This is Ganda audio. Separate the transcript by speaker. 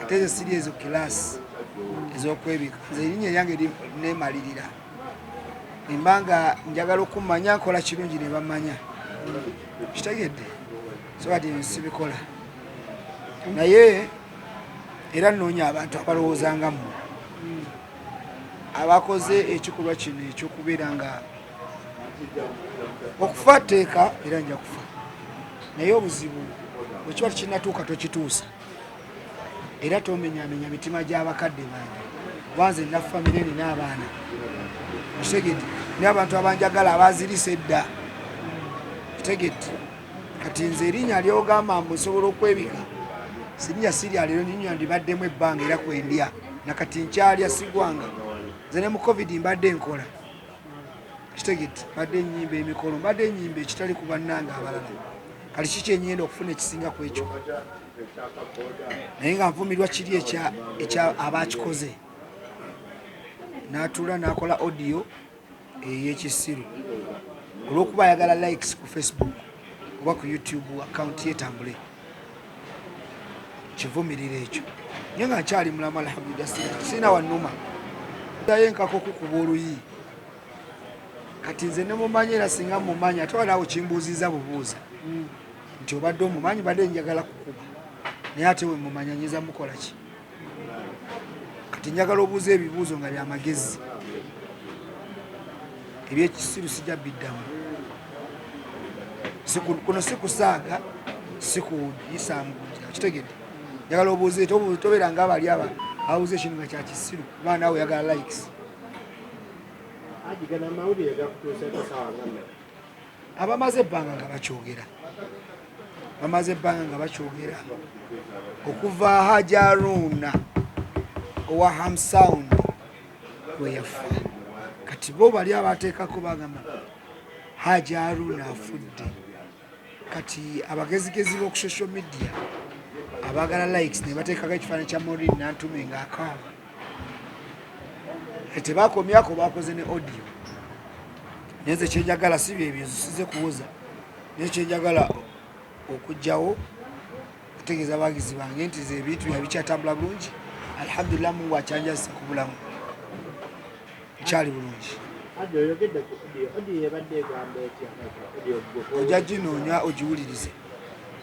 Speaker 1: ate ezo siri ezo kilaasi ezokwebika nze erinya eryange nemalirira emba nga njagala okumanya nkola kirungi nebamanya kitegedde sobati nsibikola naye era nnoonya abantu abalowooza nga mmwe abakoze ekikolwa kino ekyokubeera nga okufa tteeka era nja kufa naye obuzibu bwekiba tekinatuuka tokituusa era tomenyamenya mitima gy'abakadde bange wanze nina famire nina abaana otegedde ni abantu abanjagala abazirisa edda otegedde kati nze erinya lyogamba mbu nsobola okwebika sirinya sirya lero ninya ndibaddemu ebbanga era kwendya nakati nkyalya sigwanga nze ne mu covid mbadde nkola kitegedde mbadde enyimba emikolo mbadde enyimba ekitali ku bannange abalala kati ki kyenyenda okufuna ekisinga ku ekyo naye nga nvumirwa kiri ekya abakikoze natuula nakola audio eyekisiru olwokuba ayagala likes ku facebook oba ku youtube account yetambule kivumirira ekyo nye nga nkyali mulamu alhamdulila sirina wanuma dayo enkaka okukuba oluyi kati nze nemumanyi era singa mumanyi ate walaawo kimbuuziza bubuuza mm. nti obadde omumanyi badde njagala kukuba naye ate wemumanya nyinza mukolaki kati njagala obuuza ebibuuzo nga byamagezi ebyekisiru sijja biddamu kuno sikusaaga sikuyisaamu kitegedde njagala obuuze tobeera nga abali aba awuze kino nga kyakisiru kuba naawe oyagala likes abamaze ebbanga nga bakyogera bamaze ebbanga nga bakyogera okuva hajaruuna owa hamsound weyafa kati bo bali abateekako bagamba hajaruuna afudde kati abagezigezi b'oku social media abagala likes ne bateekako ekifaananyi kya morin nantume ngaakaaba tebakomyako bakoze ne audio naye nze kyenjagala si byebyo zisize kuwoza naye kyenjagala okugjawo okutegeeza abagizi bange nti ze ebintu bya bikyatambula bulungi alhamdulillah mungu akyanjazisa ku bulamu nkyali bulungi ojja ginoonya ogiwulirize